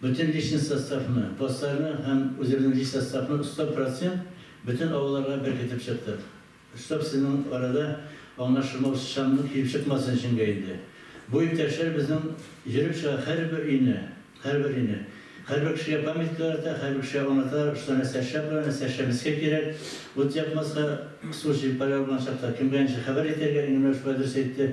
Бөтен личный составны, классларны һәм үзебезнең лич составны 100 процент бөтен авылларга беркетеп чыктык. Чтоб сезнең арада аңлашылмаучан килеп чыкмасын эчеңгә инде. Бу иптәшләр безнең йөреп чыга һәрбер өйне, һәрбер өйне. Һәрбер кешегә памятка ярата, һәрбер кешегә аңлата, что нәсәрчә пора, нәсәрчә мескә кирәк, ут якмаска, су җилпары алган чакта кемгә ничек хәбәр итәргә, Иңгәмирә шулай дөрес әйтте.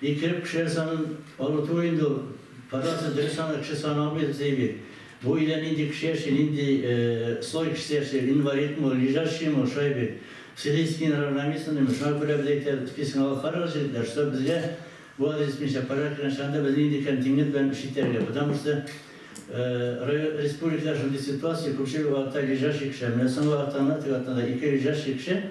Итеп кешеләр санын арыту инде ул. Кадастры дөрес аны кеше саны алмый Зәйби. Бу өйдә нинди кеше яши, нинди слой кешесе яши, инвалидмы, лежащиймы, шайби, силийский неравномесленныймы, шуңа күрә без әйтәбез, списогны алып карагыз җегетләр, чтоб безгә бу адрес буенча порядок белән чыганда без нинди контингент белән эш итәргә, потому что район, республикада шундый ситуация, күпчелек вакытта лежащий кешеләр, менә соңгы атнада, теге атнада ике лежащий кеше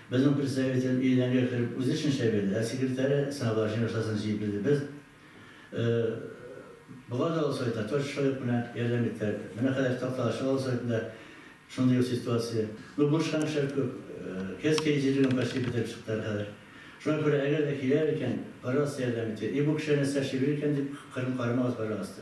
Безнең представитель иленәге кереп үзе эшен эшләп йөрде, ә секретаре сынаулар өчен акчасын җыеп бирде. Без Болгар авыл советына Точка совет белән ярдәм иттеләр. Менә хәзер Такталачык авыл советында шундый ук ситуация. Ну, булышкан кешеләр күп. Кельское җирлеген почти бетереп чыктылар хәзер. Шуңа күрә, әгәр дә киләләр икән, пожалуйста, ярдәм итегез. И бу кешеләр нәрсә эшли белер икән дип, кырын карамагыз, пожалуйста.